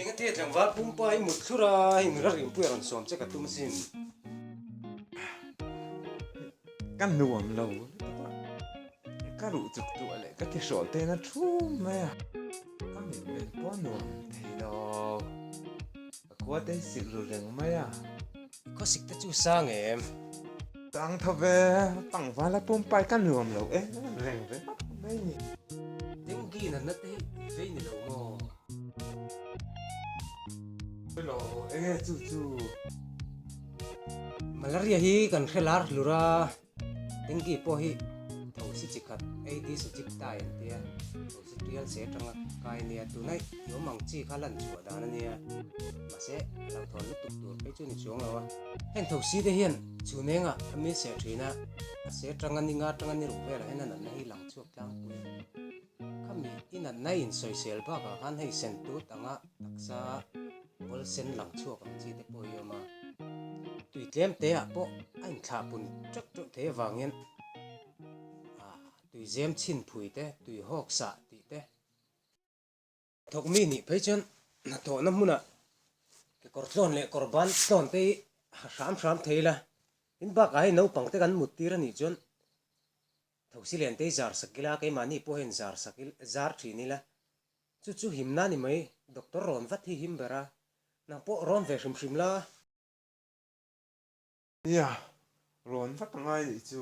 Eng te tlangval pumpa hi mut thlur a hei nula ringpuia rawn sawm che ka tum sin ka nuam lo ka ruh chuk tu a leh ka ti hrawh te na thu mai a ka min men pawh nuam thei lo. A khuatei silh ru reng mai a. I khawsik te chu sang em. Sang tho ve, pangvala pumpai ka nuam lo em em reng ve vat mai ni. Dengue natna te hi vei ni lo maw? Vei lo enge chu chu. Malaria hi kan hre lar hlur a. Tengi pawh hi thosi chi khat AD Sujip Dai an tia, thosi tial se atanga kai nia, tunah i awm ang chi kha lan chhuah dan ania, mahse a lang thawn lutuk tur phei chu ni chuang lo a. Heng thosi te hian chhunenga a mil seh thin a, a se atanga ni nga atanga ni ruk velah hian a natna hi lang chhuak tlangpui a. Khami tinanna insawisel bakah khan hei Sentut anga taksa Ball Sen lang chhuak ang chi te pawh hi a awm a, tui tlem te ah pawh a inthlak pun teuh teuh thei avangin tuizem chhin phui te, tui hawk sah tih te, Thawk mi nih phei chuan hnathawhna hmunah kekawr tlawn leh kawr ban tlawn te hi ha hram hram thei ila, tin bakah hei naupang te kan muttir a nih chuan thosi len te hi zar sak ila, keimahni pawh hian zar sak ila, zar thin ila. Chu chu him na ni mai, doctor rawn vat hi him ber a, nang pawh rawn ve hrim hrim la. Nia, rawn vat a ngai nih chu.